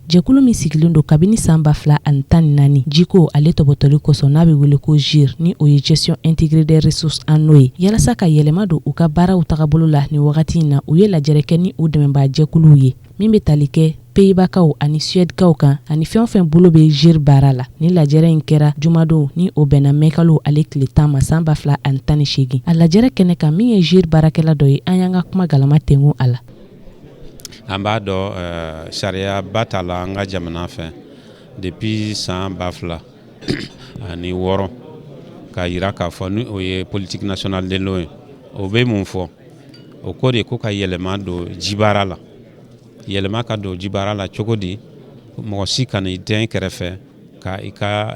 Jɛkulu min sigilen don kabini san ba fila ani tan ni naani jiko ale tɔbɔtɔli kɔsɔn n'a bɛ wele ko GIRE ni o ye gestion intégrée des ressources en eau ye yalasa ka yɛlɛma don u ka baaraw tagabolo la ni wagati in na u ye lajɛrɛ kɛ ni u dɛmɛbaa jɛkuluw ye min bɛ tali kɛ peyibakaw ani suwɛdikaw kan ani fɛn o fɛn bolo bɛ GIRE baara la nin lajɛrɛ in kɛra jumadon ni o bɛnna mɛkalo ale tile tan ma san ba fila ani tan ni seegin a lajɛrɛ kɛnɛ kan min ye GIRE baarakɛla dɔ ye an y'an ka kuma galama tengu a la An b'a dɔn ɛɛ sariya ba tala an ka jamana fɛ depuis san 2000 ani wɔɔrɔ k'a yira k'a fɔ ni o ye politique nationale de l'eau ye o bɛ mun fɔ o ko de ko ka yɛlɛma don jibaara la yɛlɛma ka don jibaara la cogo di mɔgɔ si kana i dɛn kɛrɛfɛ ka i ka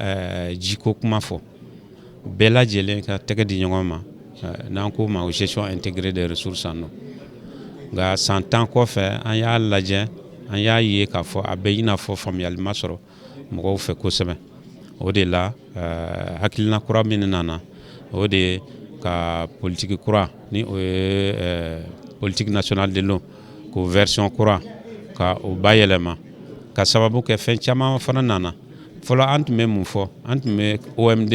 jiko kuma fɔ Bɛɛ lajɛlen ka tɛgɛ di ɲɔgɔn ma n'an k'o ma o gestion intégrée des ressources en eau nka san tan kɔfɛ an y'a lajɛ an y'a ye k'a fɔ a bɛ i n'a fɔ faamuyali ma sɔrɔ mɔgɔw fɛ kosɛbɛ o de la hakilina kura min nana o de ye ka politique kura ni o ye politique nationale de l'eau k'o version kura ka o bayɛlɛma k'a sababu kɛ fɛn caman fana nana fɔlɔ an tun bɛ mun fɔ an tun bɛ OMD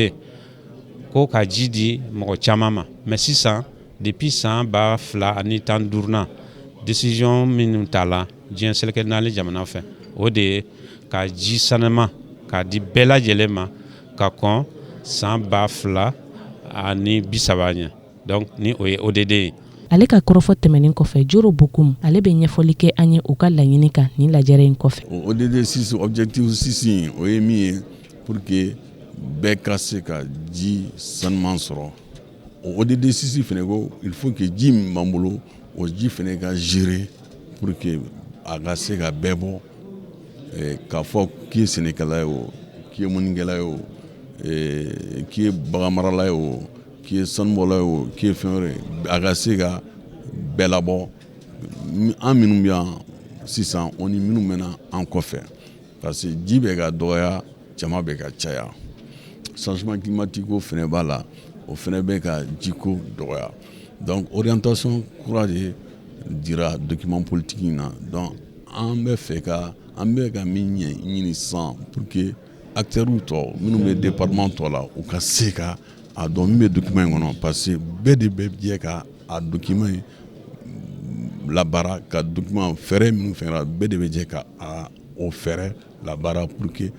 ko ka ji di mɔgɔ caman ma mais sisan depuis san ba fila ani tan duuru na décision minnu tala diɲɛ seleke naani jamana fɛ o de ye ka ji sanuman ka di bɛɛ lajɛlen ma ka kɔn san ba fila ani bi saba ɲɛ Donc ni o ye ODD ye. Ale ka kɔrɔfɔ tɛmɛnen kɔfɛ Joro Bokoum ale bɛ ɲɛfɔli kɛ an ye u ka laɲini kan nin lajɛrɛ in kɔfɛ. O ODD 6 objectif 6 in o ye min ye pour que bɛɛ ka se ka ji sanuman sɔrɔ. O ODD 6 fɛnɛ ko il faut que ji min b'an bolo o ji fɛnɛ ka gérer pour que a ka se ka bɛɛ bɔ eh, k'a fɔ k'i ye sɛnɛkɛla ye o, k'i ye mɔnikɛla ye o, eh, k'i ye baganmarala ye o, K'i ye sanubɔla ye o k'i ye fɛn wɛrɛ a ka se ka bɛɛ labɔ an minnu bɛ yan sisan o ni minnu bɛ na an kɔfɛ parce que ji bɛ ka dɔgɔya jama bɛ ka caya changement climatique o fɛnɛ b'a la o fɛnɛ bɛ ka jiko dɔgɔya donc orientation kura de dira document politique in na donc an bɛ fɛ ka an bɛ ka min ɲɛɲini sisan pour que Acteurw tɔ minnu bɛ département tɔ la u ka se ka a dɔn min bɛ document in kɔnɔ parce que bɛɛ de bɛ jɛ ka a document in labaara ka document fɛɛrɛ minnu fɛnɛ bɛɛ de bɛ jɛ ka o fɛɛrɛ labaara pour que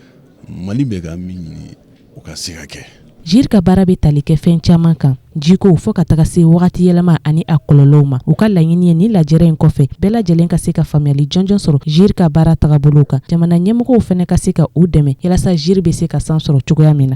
Mali bɛ ka min ɲini o ka se ka kɛ GIRE ka baara bɛ tali kɛ fɛn caman kan jiko fo ka taga se wagati yɛlɛma ani a kɔlɔlɔw ma u ka laɲini ye ni lajɛrɛ in kɔfɛ bɛɛ lajɛlen ka se ka faamuyali jɔnjɔn sɔrɔ GIRE ka baara tagabolow kan jamana ɲɛmɔgɔw fɛnɛ ka se ka u dɛmɛ yalasa GIRE bɛ se ka san sɔrɔ cogoya min na